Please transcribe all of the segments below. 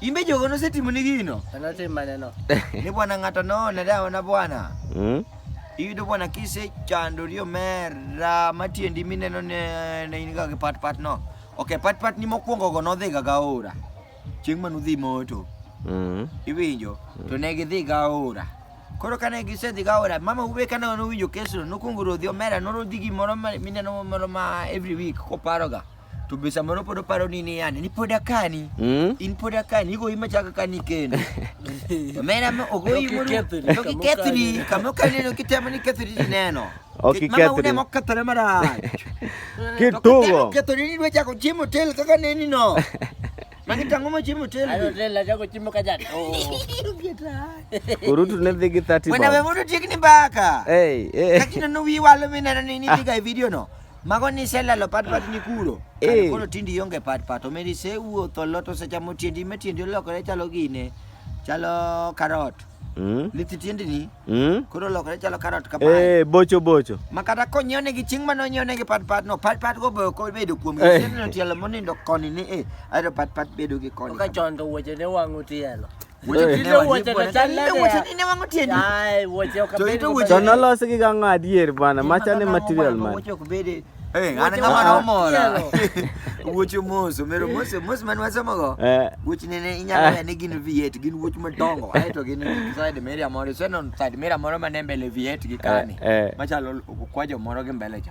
Imbe jogo nosetimo ni gino. Anotim maneno. Ni bwana ng'ato noone dawa na bwana. Mm. Iyudo bwana kise chandori omera matiendi mineno ne ne in ga gi pat pat no. Okay, pat pat ni mokwongo go nodhi ga gaora. Chieng' manu dhi moto. Mm. Iwinjo? To ne gidhi gaora. Koro kane gisedhi gaora, mama ube kane nowinjo kesno, nokwongo rodhi omera, norodhi gimoro ma- mineno moro ma every week koparoga. to be samoro pod oparo ni ni yani ni pod akani Mm? in pod akani igoyi machaka kani kendo omera ma ogoyi mondo Nokikethri, kama nokikethri okani. kama okaneno kitemo ni kethri tineno Ok Kech mama ikethri. une mokethore marach Kitugo. kethori ni dwa chako chiemo hotel kaka neni no magi tang'o ma chiemo hotel Ano tela chako chimo ka jat. Oh. Urutu ne dhi gi 30 wena we bob. mondo tiek ni mbaka Hey, hey. kakineno wi walo mineno ni nidhiga e video no Mago ni iselalo pat pat ni kuro. Eh. Koro tindi ionge pat pat. Omeri isewuotho lot osechamo tiendi ma tiendi olokore chalo gine. Chalo karot. Mm. Lith tiendi ni Mm. koro olokore chalo karot ka pie. Eh, bocho bocho. Ma kata konyiew ne gi chieng' mane onyiew ne gi pat pat no pat pat go be ok obedo kuom Eh. gi. Seno tielo monindo koni ni eh. Aero pat pat bedo gi koni. Ka chon to wuoche ne wang'o tielo. Wuoche kinde wuoche to chal nade? Wuoche ni ne wango tiende. Ai, wuoche ok To ito wuoche- To nolosi gi gang'o adier bana, macha ni material man. Wuoche ok bede. Eh, an Wuoche ng'ama wango nomora. tielo. Wuoche mos, omero mos, mos man wasomogo. Eh, Wuoch nene inyalo Ah. ya ni gin V8, gin wuoch madongo. Ae to gin side mirror moro, iseneno side mirror moro mane mbele V8 gi kani. Eh, eh. Machalo kwajo moro gi mbele cha.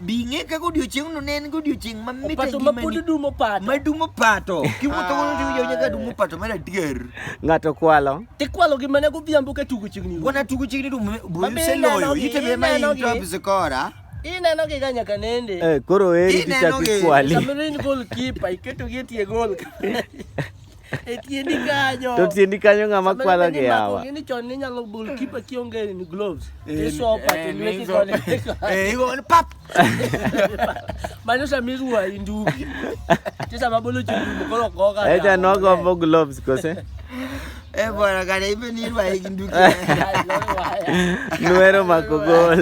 Bi ing'e kaka odiochieng'no ne en godiochieng' mamit e Opato ma pod ngimani. dum opato. Ma dum opato. Kiwuotho godo to iwinjo nyaka dum opato mar adier. Ng'ato kwalo. Tikwalo gi mana godhiambo ka tugo chiegni. Wana tugo chiegni dum Mami buyu seloyo. ineno gi, Ite be ma ineno in gi. top score. Ineno gi ga nyaka nende. Eh, koro eri Ineno kichako gi- ikwali. Samoro in goal keeper, iketo gi e tie goal. e tiendi kanyo to tiendi kanyo ng'ama kwalo gi yawa ni chon ni nyalo bul kipa kionge ni gloves eh, isopa eh, to lweti koni eh igo ni pap manyo sa miruwa indugi tisa mabolo chundu kolo koka eh ja no go gloves kose Eh bora kana ibe ni irwa indugi nuero makogol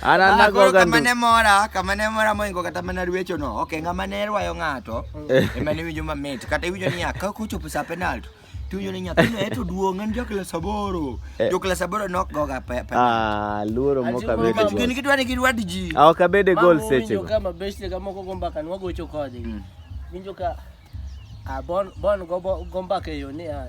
ana ah, nago gandu kama ne mora kama ne mora moingo kata mana rwecho no okay ngama ne rwayo ngato Eh. Ema ne winjo mamit. Kata iwinjo niya, ka kochopo sa penalty, tiwinjo ni nyathino e to duong' en joklas aboro. Eh. Joklas aboro nok goga pe. pe- Ah, luoro mok Achimo abede Nikech gin gol. gidwa ni girwad ji. Ah, ok abede gol Mama winjo sechego. ka mabeshte ka moko go mbaka ni wagocho kodgi. Mm. Winjo ka ah, bon bon go bo- go mbaka e yo ni ah,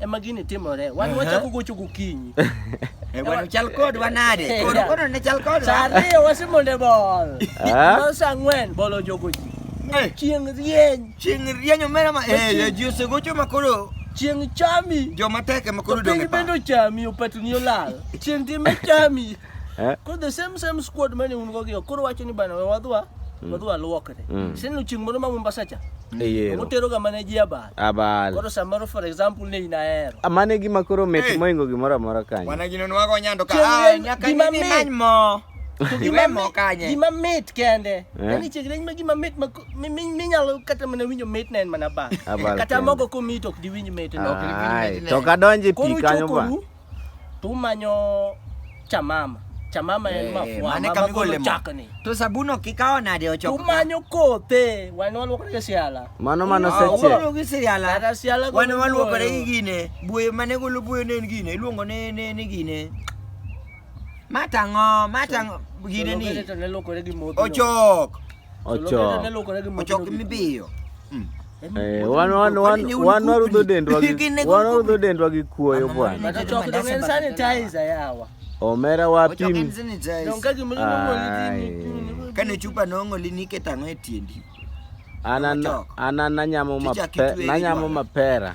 ema gini timore. Wan Aha. wachako gocho gokinyi. Eh, bwana chal kod wanade. Eh, Koro yeah. koro ne chal kod. Saa ariyo wasemonde bol. Ah. Bol saa ang'wen bol ojogo ji. Eh, Chieng' rieny, chieng' rieny omera ma eh eh, ji osegocho ma koro chieng' chami. joma tek ema koro To dong' piny e pap. bende ochami opatni olal. Chieng' time chami. Eh? Koro the same same squad mane un go giyo. Koro wacho ni bana we wadwa mm. wadwa luokre. Mm. Sinu chieng' moro ma Mombasa cha. Eyero. Motero ga mane ji abal. Abal. Koro samoro for example ne inahero. Amane ah, gima koro met hey. moingo gimoro amora kanyo. Wana gino nwago nyando ka. Ah, nyaka ni many mo. Gima mo kanye. Gima mit kende. Eh? Nani chegre ma gima mit ma minyalo kata mana winjo mit na en mana ba. Kata mogo ko mit ok diwinj mit no. To kadonje pi kanyo ba. tumanyo chamama chamama en Eh, mafua mane ma- kama magolo igole mo. chakni To sabuno kikawo nade ochoko? tumanyo kothe wan waluokore gi siala Mano mano Ah, seche. ugolo gi siala. Kata siala golo Wan waluokore buoyo. gi gine. Buoyo mane golo buoyo ne en gine. Iluongo ne ne ni gine. Matang'o, matang'o gine Jolongere ni. to ne luokore gi modhi no. Ochok. ochoki mibiyo hmm. eh, wanwarudho dendwa gi kuoyo bwana omera wapim kane chupa nong'oli niketo ang'o e tiendi an nanyamo mapera